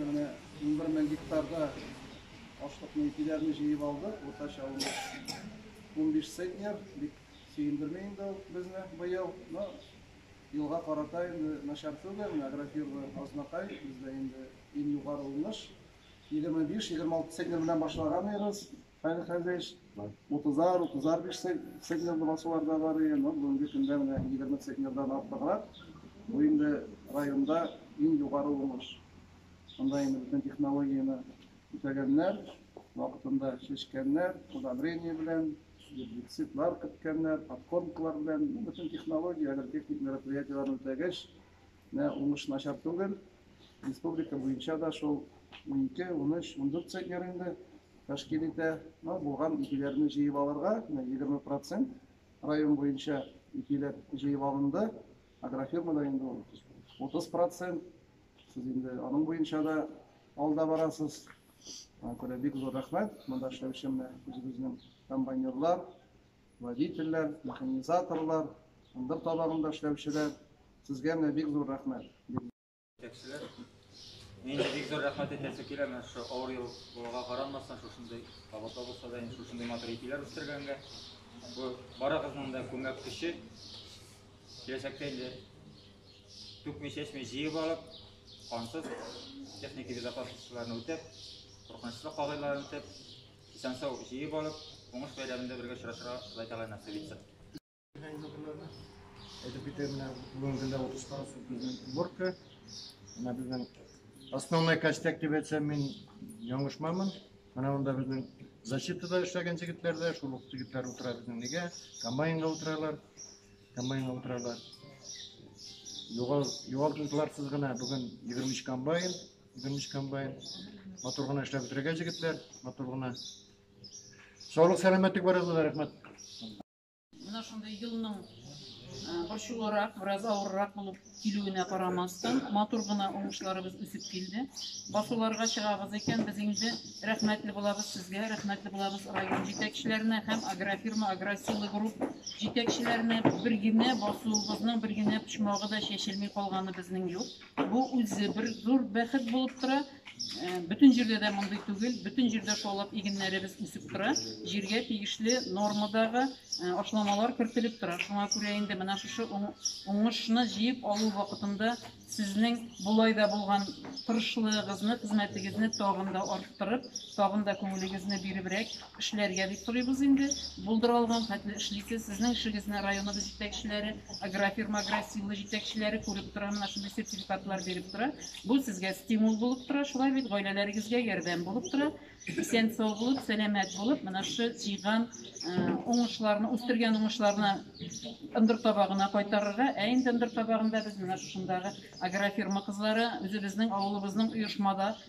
Менә унбер мең гектарда ашлыкны ипиләрне җыеп алды, уртача унбиш центнер, бик сөендерми инде ул безне быел. Но елга карата инде начар түгел, менә агрофирма Азнакай, бездә инде иң югары уңыш. Егерме биш, егерме алты центнер белән башлаган идегез. Фәнис Хәзрич, утызар, утызар биш центнерлы басулар да бар иде, но бүгенге көндә менә егерме центнердан артыграк. Бу инде районда иң югары уңыш. Монда инде бөтен технологияне үтәгәннәр, вакытында чәчкәннәр, удобрение белән, гербицидлар керткәннәр, подкормкалар белән, ну, бөтен технология, агротехник мероприятиеләрне үтәгәч, менә уңыш начар түгел. Республика буенча да шул 12, 13, 14 центнер инде. тәшкил итә. Булган ипиләрне җыеп алырга, менә 20 процент район буенча ипиләр җыеп алынды. Агрофирмада инде ул 30 процент. Сез инде аның буенча да алда барасыз. Аңа күрә бик зур рәхмәт. Монда эшләүче менә үзебезнең комбайнерлар, водительләр, механизаторлар, ындыр табагында эшләүчеләр. Сезгә менә бик зур рәхмәт. Җитәкчеләр, инде бик зур рәхмәт әйтәсе килә, менә шушы авыр ел булуга карамастан, шушындый кабатла булса да, инде шушындый матур ипиләр үстергәнгә. Бу барыгызның да күмәк көче. Киләчәктә инде түкми чәчми җыеп алып, кансыз техника безопасностьларын үтәп, куркынычлы кагыйларын үтәп, исән-сау җыеп алып, уңыш бәйрәмендә бергә очрашырга Ходай Тәгалә насыйп итсен. Әйтеп китәм, менә бүгенге көндә утырышта безнең уборка. Менә безнең основной костяк дип әйтсәм, мин яңышмамын. Менә монда безнең защитада эшләгән җегетләр дә, шул ук егетләр утыра безнең нигә, комбайнга утыралар. Комбайнга утыралар. Югал, югал туйларсыз гына бүген 23 комбайн, 23 комбайн. Матур гына эшләп бетерергә җегетләр, матур гына. Саулык, сәламәтлек барыгызга рәхмәт. Менә шундый елның борчулырак, бераз авыррак булып килүенә карамастан, матур гына уңышларыбыз үсеп килде. Басуларга чыгабыз икән, без инде рәхмәтле булабыз сезгә, рәхмәтле булабыз район җитәкчеләренә һәм агрофирма, агросилы групп җитәкчеләренә. Бер генә басуыбызның бер генә почмагы да чәчелми калганы безнең юк. Бу үзе бер зур бәхет булып тора. Бөтен җирдә дә мондый түгел. Бөтен җирдә шаулап игеннәребез үсеп тора. Җиргә тиешле нормадагы ашламалар кертелеп тора. Шуңа күрә инде менә шушы уңышны җыеп алу вакытында сезнең болай да булган тырышлыгыгызны, хезмәтегезне тагын да арттырып, тагын да күңелегезне биребрәк, Эшләргә дип торыйбыз инде. Булдыра алган хәтле эшлисез. Сезнең эшегезне районыбыз җитәкчеләре, агрофирма Агросила җитәкчеләре күреп тора, менә шундый сертификатлар биреп тора. Бу сезгә стимул булып тора, шулай бит, гаиләләрегезгә ярдәм булып тора. Исән-сау булып, сәламәт булып, менә шушы җыйган уңышларны, үстергән уңышларны ындыр табагына кайтарырга. Ә инде ындыр табагында без менә шушындагы агрофирма кызлары, үзебезнең авылыбызның оешмада,